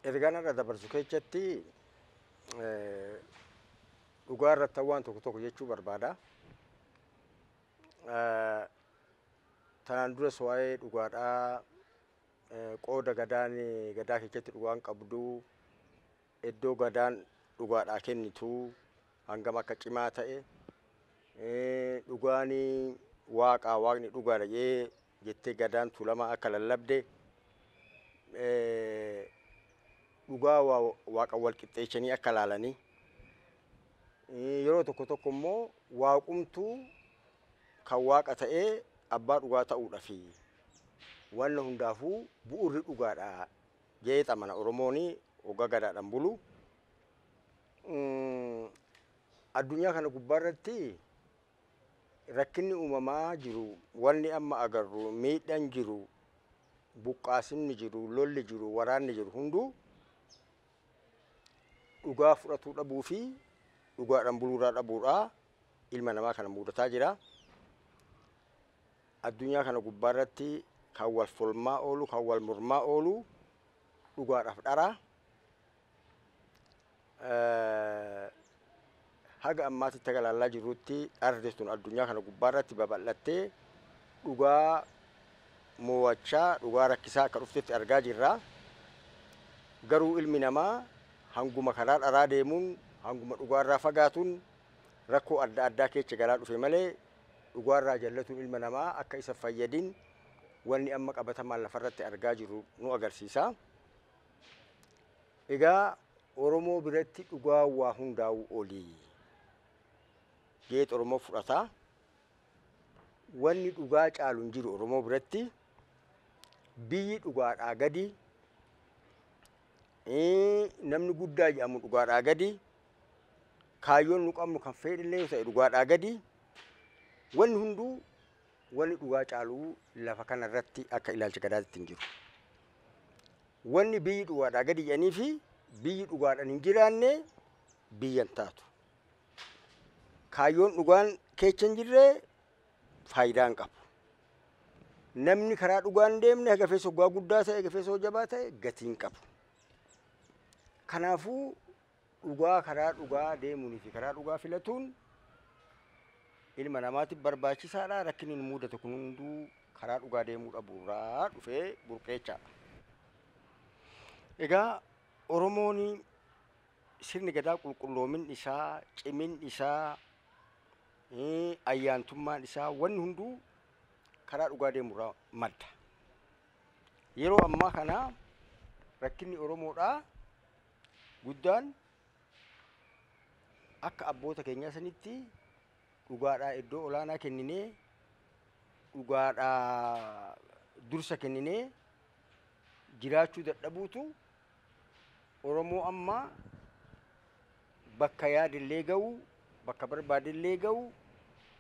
ergaan irra dabarsu keessatti eh, dhugaa irratti waan tokko tokko jechuu barbaada. Eh, Tanaan duras waa'ee dhugaadhaa eh, qooda gadaan gadaa keessatti dhugaan qabdu Eddoo Gadaan dhugaadhaa kennitu hangam akka cimaa ta'e, dhugaan Waaqaa, Waaqni dhugaadha jedhee jettee Gadaan Tuulamaa akka lallabde, dhugaa Waaqan wal qixxeechanii akka laalanii, yeroo tokko tokko immoo Waaqumtuu kan Waaqa ta'ee abbaa dhugaa ta'uudhafi wanna hundaafuu bu'urri dhugaadha Jeexa mana Oromooni wogga gadaadhan bulu. Addunyaa kana gubbaa irratti rakkinni uumamaa jiru, wanni amma agarru, miidhan jiru, buqqaasinni jiru, lolli jiru, waraanni jiru hunduu dhugaa fudhatuu dhabuu fi dhugaadhan buluu irraa dhabuudhaa ilma namaa kana muudataa jira. Addunyaa kana gubbaa irratti kan wal folmaa oolu, kan wal mormaa oolu dhugaadhaaf dhara. Haga ammaatti itti galaallaa jirrutti dharri sun addunyaa kana gubbaa irratti babal'attee dhugaa mo'achaa dhugaa rakkisaa akka dhuftetti argaa jirra. Garuu ilmi namaa hanguma karaa dharaa deemuun hanguma dhugaarraa fagaatuun rakkoo adda addaa keessa galaa dhufe malee dhugaa irraa jallatuun ilma namaa akka isa fayyadin wanni amma qabatamaan lafarratti argaa jirru nu agarsiisa. Egaa Oromoo biratti dhugaa waa hundaa'uu olii geet Oromoo fudhata. Wanni dhugaa caalu hin jiru Oromoo biratti biyyi dhugaadhaa gadi namni guddaa jedhamu dhugaadhaa gadi Kaayyoon nu qabnu kan fedhillee yoo ta'e dhugaadhaa gadi wanni hunduu wanni dhugaa caaluu lafa kana irratti akka ilaalcha gadaatitti hin jiru. Wanni biyyi dhugaadhaa gadi jedhanii fi biyyi dhugaadhaan hin jiraanne biyya hin taatu. Kaayyoon dhugaan keecha hin jirre faayidaa hin qabu. Namni karaa dhugaa hin deemne gafeessa hoggaa guddaa ta'e gafeessa hojjabaa ta'e gatii hin qabu. Kanaafuu Dhugaa karaa dhugaa deemuunii fi karaa dhugaa filatuun ilma namaatiif barbaachisaadha. Rakkinni nu mudatu kun hunduu karaa dhugaa deemuu dhabuurraa dhufee burqeechaadha. Egaa Oromoon sirni gadaa qulqulloomin isaa, cimin isaa, eh, ayyaantummaan isaa wanni hunduu karaa dhugaa deemurraa madda. Yeroo ammaa kana rakkinni Oromoodhaa guddaan akka abboota keenyaa sanitti dhugaadhaa iddoo olaanaa kenninee dhugaadhaa dursa kenninee jiraachuu dadhabuutu Oromoo ammaa bakka yaadillee ga'uu Bakka barbaadellee ga'uu,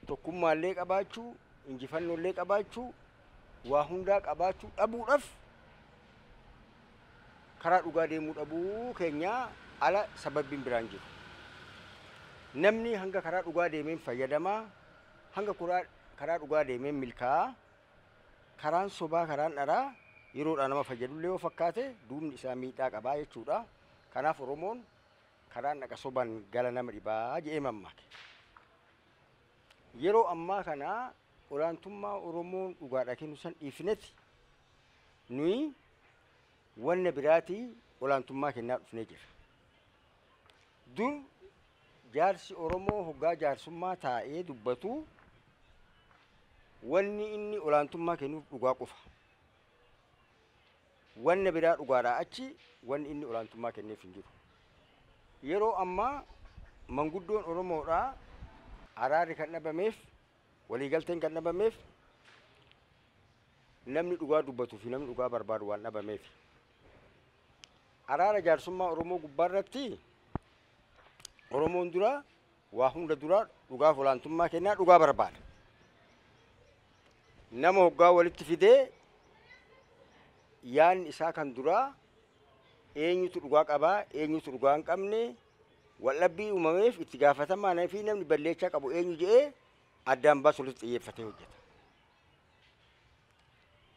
tokkummaallee qabaachuu, injifannoollee qabaachuu, waa hundaa qabaachuu dhabuudhaaf karaa dhugaa deemuu dhabuu keenyaa ala sababbiin biraan jiru. Namni hanga karaa dhugaa deemeen fayyadamaa, hanga kuraa karaa dhugaa deemeen milkaa'a. Karaan sobaa, karaan dharaa yeroodhaa nama fayyadullee yoo fakkaate duubni isaa miidhaa qabaa jechuudha. Kanaaf Oromoon Karaan dhaqa sobaan gala nama dhibaa jedhee mammaake. Yeroo ammaa kana olaantummaa Oromoon dhugaadha kennu san dhiifnetti nuyi wanna biraatii olaantummaa kennaa dhufnee jirra. Dur jaarsi Oromoo hoggaa jaarsummaa taa'ee dubbatu wanni inni olaantummaa kennuuf dhugaa qofa. Wanna biraa dhugaadhaa achi wanni inni olaantummaa kenneef hin jiru. Yeroo ammaa manguddoon Oromoodhaa araarri kan dhabameef, waliigalteen kan dhabameef namni dhugaa dubbatuu fi namni dhugaa barbaadu waan dhabameef. Araara jaarsummaa Oromoo gubbaarratti Oromoon duraa Waa hunda dura dhugaaf olaantummaa kennaa dhugaa barbaada. Nama hoggaa walitti fidee yaanni isaa kan duraa eenyutu dhugaa qabaa eenyutu dhugaa hin qabne waldhabbii uumameef itti gaafatamaan fi namni balleechaa qabu eenyu jedhee addaan baasu irratti xiyyeeffatee hojjeta.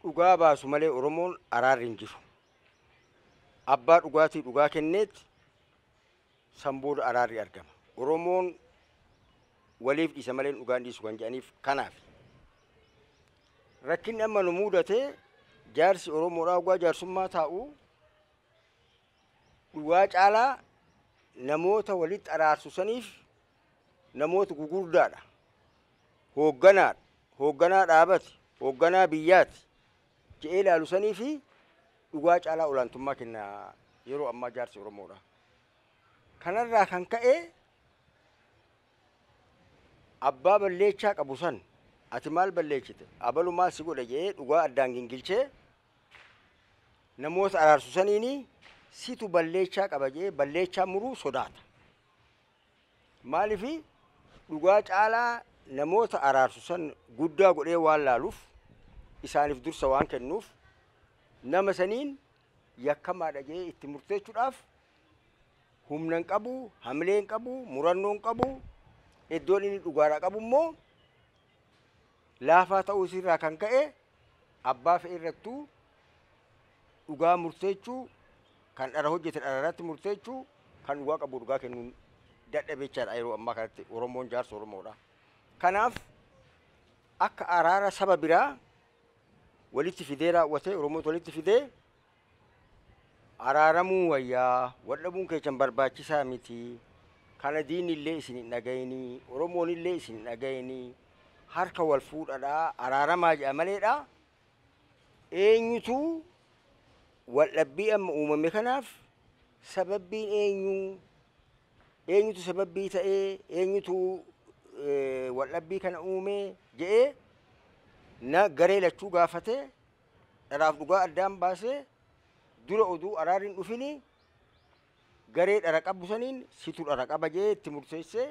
Dhugaa baasu malee Oromoon araarri hin jiru. Abbaa dhugaatii dhugaa kenneetti San booda araarri argama. Oromoon waliif dhiisa malee dhugaan dhiisu kan jedhaniif kanaafi. Rakkinni amma nu muudate jaarsi Oromoodhaa dhugaa jaarsummaa taa'u dhugaa caalaa namoota walitti araarsu saniif namoota gugurdaadha. Hoogganaadha. Hoogganaa dhaabati. Hoogganaa biyyaati. je'ee laalu saniifi dhugaa caalaa olaantummaa kenna yeroo ammaa jaarsi Oromoodha. Kanarraa kan ka'e abbaa balleechaa qabu san ati maal balleechite abalu maal si godhe je'ee dhugaa addaan gingilchee namoota araarsu saniini situ balleechaa qaba je'ee balleechaa muruu sodaata. Maaliif dhugaa caalaa namoota araarsu san guddaa godhee waan laaluuf isaaniif dursa waan kennuuf nama saniin yakkamaadha jedhee itti murteechuudhaaf humna hin qabu, hamilee hin qabu, murannoo hin qabu, iddoon inni dhugaadhaa qabu immoo laafaa ta'uu isii irraa kan ka'e abbaa fe'e irrattuu dhugaa murteechuu kan dhara hojjete dhara irratti murteechuu kan dhugaa qabu dhugaa kennuun dadhabee jechaadha yeroo ammaa kanatti Oromoon jaarsa Oromoodha. Kanaaf akka araara saba biraa walitti fidee raawwatee Oromoota walitti fidee Araaramuun wayya, wal dhabuun keessan barbaachisaa miti. Kana diinni illee isin hin dhagayinii, Oromoon illee isin hin dhagayinii. Harka wal fuudhadhaa, araaramaa jedha maleedha. Eenyutu wal dhabbii amma uumame kanaaf sababbiin eenyu? Eenyutu sababbii ta'ee? Eenyutu eh, wal dhabbii kana uumee? jedhee na garee lachuu gaafatee Dharaaf dhugaa addaan baasee dura oduu araarri hin dhufini garee dhara qabu saniin situ dhara qaba jee itti murteessee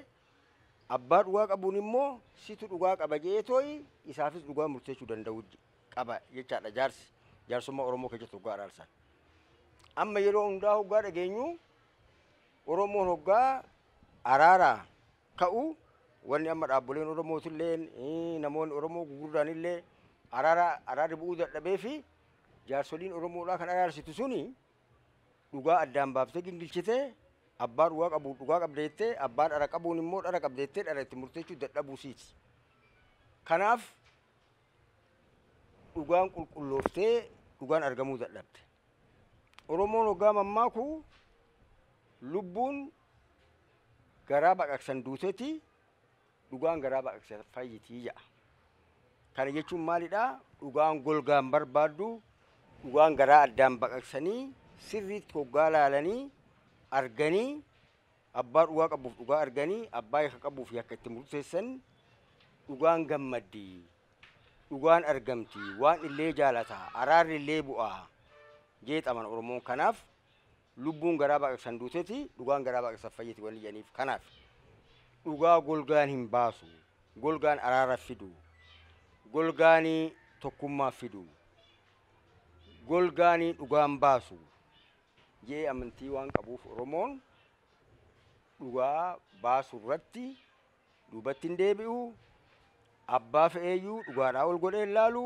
abbaa dhugaa qabuun immoo situ dhugaa qaba jee tooyi isaafis dhugaa murteessuu danda'u je- qaba jechaadha jaarsi jaarsummaa Oromoo keessatti dhugaa araarsan. Amma yeroo hundaa hoggaa dhageenyu Oromoon hoggaa araaraa ta'u wanni amma dhaabboleen Oromootilleen namoonni Oromoo gugurdaanillee araara araarri bu'uu dadhabee fi jaarsoliin Oromoodhaa kan araarsitu suni dhugaa addaan baaftee gingilchitee abbaa dhugaa qabu dhugaa qabdeettee abbaa dhara qabuun immoo dhara qabdeettee dhara itti murteechuu dadhabuu siiti. Kanaaf dhugaan qulqullooftee dhugaan argamuu dadhabde. Oromoon hoggaa mammaaku lubbuun garaa baqaqsan duuteti dhugaan garaa baqaqsa fayyitii ja'a. Kana jechuun maalidhaa? Dhugaan golgaan barbaaddu dhugaan garaa addaan baqaqsanii sirriitti hoggaa laalanii arganii abbaa dhugaa qabuuf dhugaa arganii abbaa yakka qabuuf yakka itti murteessan dhugaan gammaddi. Dhugaan argamti. Waan illee jaalata. Araarri illee bu'aa. Jeexaman Oromoon kanaaf Lubbuun garaa baqaqsan duuteti, dhugaan garaa baqaqsan fayyiti wanni jedhaniif kanaaf. Dhugaa golgaan hin baasu, golgaan araara fidu, golgaan tokkummaa fidu, golgaan dhugaan baasu jedhee amantii waan qabuuf Oromoon dhugaa baasu irratti duubatti hin deebi'u, abbaa fe'eeyyuu dhugaadhaa ol godhee hin laalu,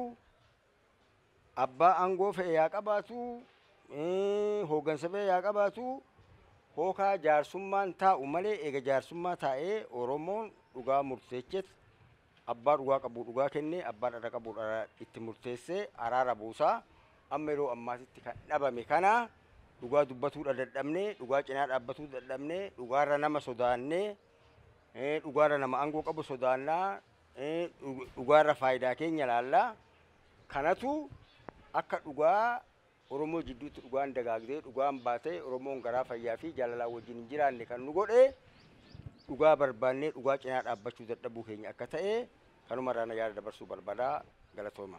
abbaa aangoo fe'e yaa qabaatu, hooggansa fe'e yaa qabaatu, hookaa jaarsummaan taa'u malee eega jaarsummaa taa'ee Oromoon dhugaa murteecheet abbaa dhugaa qabu dhugaa kennee abbaa dhara qabu dhara itti murteessee araara buusaa amma yeroo ammaatitti kan dhabame kana dhugaa dubbatuudha dadhabnee dhugaa cinaa dhaabbatuu dadhabnee dhugaarra nama sodaannee dhugaarra nama aangoo qabu sodaannaa dhugaarra faayidaa keenya laalla. Kanatu akka dhugaa Oromoo jidduutti dhugaan dagaagdee dhugaan baatee Oromoon garaa fayyaa fi jaalalaan wajjin hin jiraanne kan nu godhe dhugaa barbaannee dhugaa cinaa dhaabbachuu dadhabuu keenya akka ta'e kanuma irraa na yaada dabarsuu barbaada galatooma.